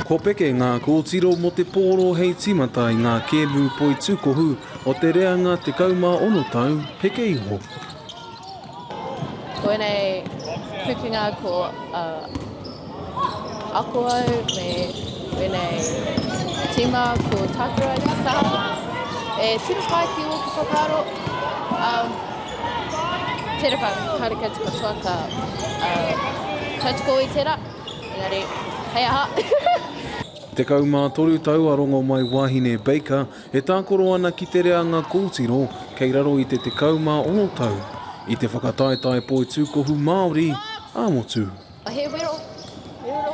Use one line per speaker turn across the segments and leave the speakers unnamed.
Ko Peke ngā kōtiro mō te pōro hei tīmata i ngā kēmu poi tūkohu o te reanga 16 tau heke iho. Ko ēnei pūkenga ko ako au me ēnei tīma ko Tākura ki Sāmoa. E tino pai ki ōku whakaaro. Tera ka haere koutou katoa ka tautoko i tera, engari hei aha. Tekau mā toru tau a Rongomaiwahine Baker e tākoro ana ki te reanga kōtiro kei raro i te tekau mā ono tau i te whakataetae poitūkohu Māori ā-motu. He wero, he wero,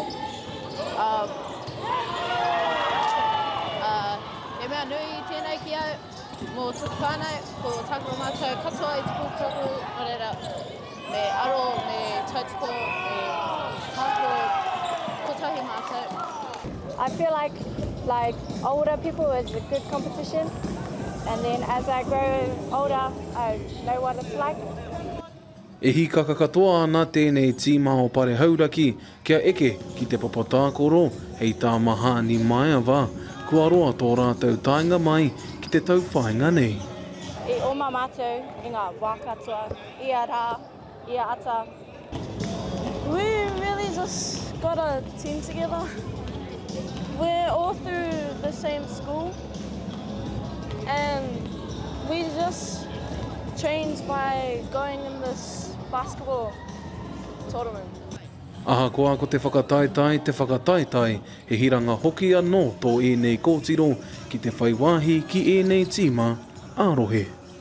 ā, ā, he mea nui tēnei ki au. Mō tōku whānau, ko tāku o mātou katoa i te pūkahu, nō reira, me aro, me tautoko, me mākō, kotahi mātou. I feel like like older people is a good competition and then as I grow older I know what it's like. E hīkaka katoa ana tēnei tīma o Pare Hauraki kia eke ki te papa tākoro hei tā Mahani Maeva, kua roa tō rātou taenga mai ki te tauwhāinga nei. I oma matou i nga wa katoa, ia ra, ia ata. We really just gotta team together, we're all through the same school. And we just trained by going in this basketball tournament. Ahakoa ko te whakataetae te whakataetae, he hiranga hoki anō tō ēnei kōtiro ki te whai wāhi ki ēnei tīma ā-rohe.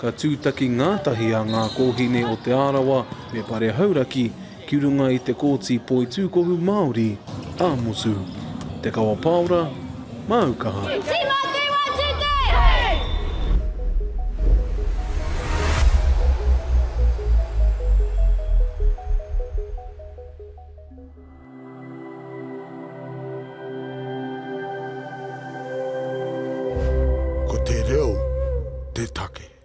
Ka tūtaki ngātahi a Ngā Kōhine o Te Arawa me Pare Hauraki ki runga i te Kōti Poitūkohu Māori, ā-motu. Te Kawa Paora, māu kaha. Ko te reo te take.